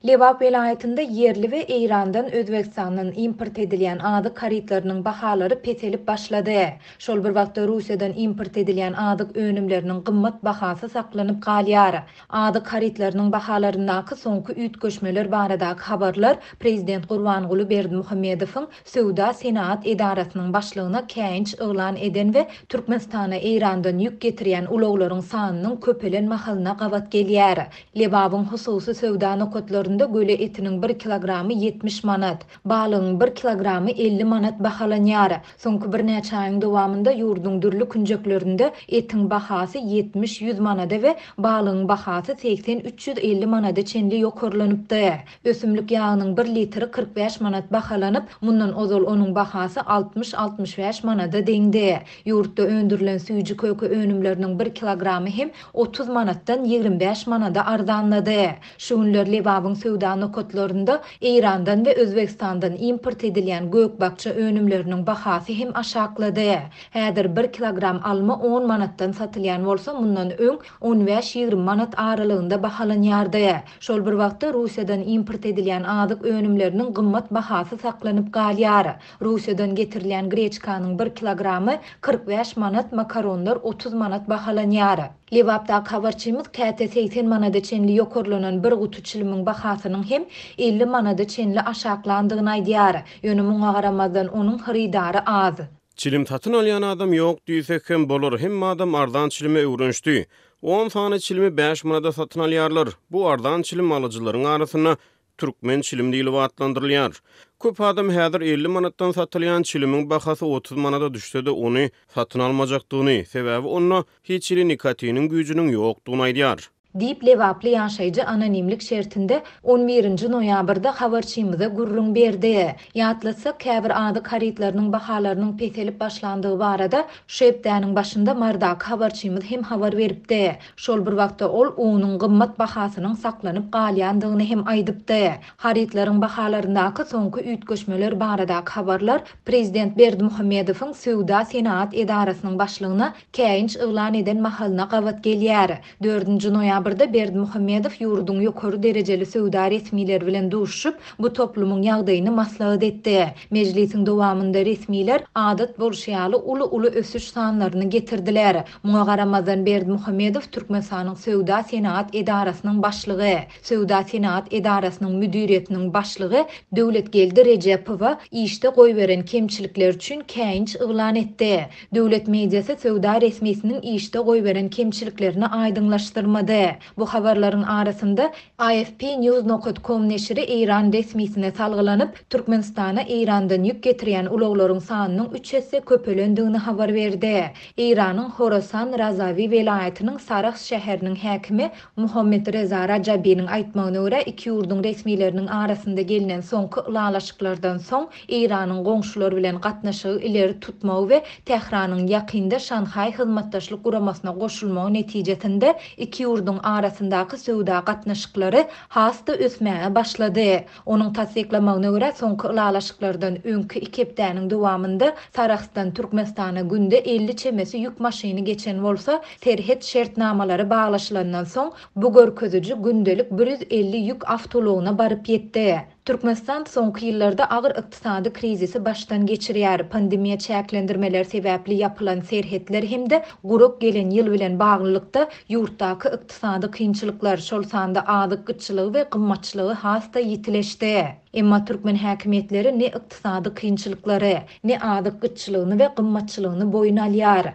Lebap welaýatynda ýerli we Eýrandan Özbegistandan import edilýän azyk harytlarynyň bahalary peselip başlady. Şol bir wagtda Russiýadan import edilýän azyk önümleriniň gymmat bahasy saklanyp galýar. Azyk harytlarynyň bahalaryndaky soňky üýtgeşmeler baradaky habarlar prezident Gurbanguly Berdimuhamedowyň Söwda-senagat edarasynyň başlygyna käýinç yglan eden we Türkmenistana Eýrandan ýük getirýän ulaglaryň sanynyň köpelen mahalyna gabat gelýär. Lebabyň hususy söwda nokatlarynda göle etiniň bir kilogramy ýetmiş manat, balygyň bir kilogramy elli manat bahalanýar. Soňky birnäçe aýyň dowamynda ýurduň dürli künjeklerinde etiň bahasy ýetmiş-ýüz manada we balygyň bahasy segsen-üç ýüz elli manada çenli ýokarlanypdy. Ösümlik ýagynyň bir litri kyrk bäş manat bahalanyp, mundan ozal onuň bahasy altmyş-altmyş bäş manada deňdi. Ýurtda öndürilen süýji-köke önümleriniň bir kilogramy hem otuz manatdan ýigrimi bäş manada arzanlady. Şu günler Lebabyň söwda nokatlarynda Eýrandan we Özbegistandan import edilýän gök-bakja önümleriniň bahasy hem aşaklady. Häzir bir kilogram alma on manatdan satylýan bolsa, mundan öň on bäş-ýigrimi manat aralygynda bahalanýardy. Şol bir wagtda Russiýadan import edilýän azyk önümleriniň gymmat bahasy saklanyp galýar. Russiýadan getirilýän greçkanyň bir kilogramy kyrk bäş manat, makaronlar otuz manat bahalanýar. Lebapdaky habarçymyz käte segsen manada çenli ýokarlanan bir guty çilimiň bahasynyň hem elli manada çenli aşaklandygyny aýdýar. Ýöne muňa garamazdan onuň hyrydary az. Çilim satyn alýan adam ýok diýsek hem bolar, hemme adam arzan çilime öwrenişdi. On sany çilimi bäş manada satyn alýarlar. Bu arzan çilim alyjylaryň arasynda türkmen çilim diýlip atlandyrylýar. Köp adam häzir elli manatdan satylýan çilimiň bahasy otuz manada düşse-de ony satyn almajakdygyny, sebäbi onda hiç hili nikotiniň güýjüniň ýokdugyny aýdýar. diýip, lebaply ýaşaýjy anonimlik şertinde on birinji noýabrda habarçymyza gürrüň berdi. Ýatlatsak, käbir azyk harytlarynyň bahalarynyň peselip başlandygy barada şu hepdäniň başynda Mardaky habarçymyz hem habar beripdi. Şol bir wagtda, ol unuň gymmat bahasynyň saklanyp galýandygyny hem aýdypdy. Harytlaryň bahalaryndaky soňky üýtgeşmeler baradaky habarlar prezident Berdimuhamedowyň Söwda-senagat edarasynyň başlygyna Käýinç yglan eden mahalyna gabat gelýär. Dördünji noýabrda Berdimuhamedow ýurduň ýokary derejeli söwda resmileri bilen duşuşyp, bu toplumyň ýagdaýyny maslahat etdi. Mejlisiň dowamynda resmiler, adat bolşy ýaly, uly-uly ösüş sanlaryny getirdiler. Muňa garamazdan, Berdimuhamedow Türkmenistanyň Söwda-senagat edarasynyň başlygy Söwda-senagat edarasynyň müdiriýetiniň başlygy Döwletgeldi Rejepowa işde goýberen kemçilikleri üçin käýinç yglan etdi. Döwlet mediasy söwda resmisiniň işde goýberen kemçiliklerini aýdyňlaşdyrmady. Bu habarlaryň arasynda, AFP News nokat kom neşiri eýran resmisine salgylanyp, Türkmenistana Eýrandan ýük getirýän ulaglaryň sanynyň üç esse köpelendigini habar berdi. Eýranyň Horasan Razawi welaýatynyň Sarahs şäheriniň häkimi Muhammetreza Rajabiniň aýtmagyna görä, iki ýurduň resmileriniň arasynda gelnen soňky ylalaşyklardan soň, Eýranyň goňşular bilen gatnaşygy ileri tutmagy we Tähranyň ýakynda Şanhaý Hyzmatdaşlyk Guramasyna goşulmagy netijesinde iki ýurduň arasyndaky söwda gatnaşyklary has-da ösmäge başlady. Onuň tassyklamagyna görä, soňky ylalaşyklardan öňki iki hepdäniň dowamynda Sarahsdan Türkmenistana günde elli çemesi ýük maşyny geçen bolsa, serhet şertnamalary baglaşylandan soň, bu görkeziji gündelik bir ýüz elli ýük awtoulagyna baryp ýetdi. Türkmenistan soňky ýyllarda agyr ykdysady krizisi başdan geçirýär, pandemiýa çäklendirmeleri sebäpli ýapylan serhetler hem-de gurak gelen ýyl bilen baglylykda, ýurtdaky Ykdysady kynçylyklar, şol sanda azyk gytçylygy we gymmatçylygy has-da ýitileşdi. Emma türkmen häkimiýetleri ne ykdysady kynçylyklary, ne azyk gytçylygyny we gymmatçylygyny boýun alýar.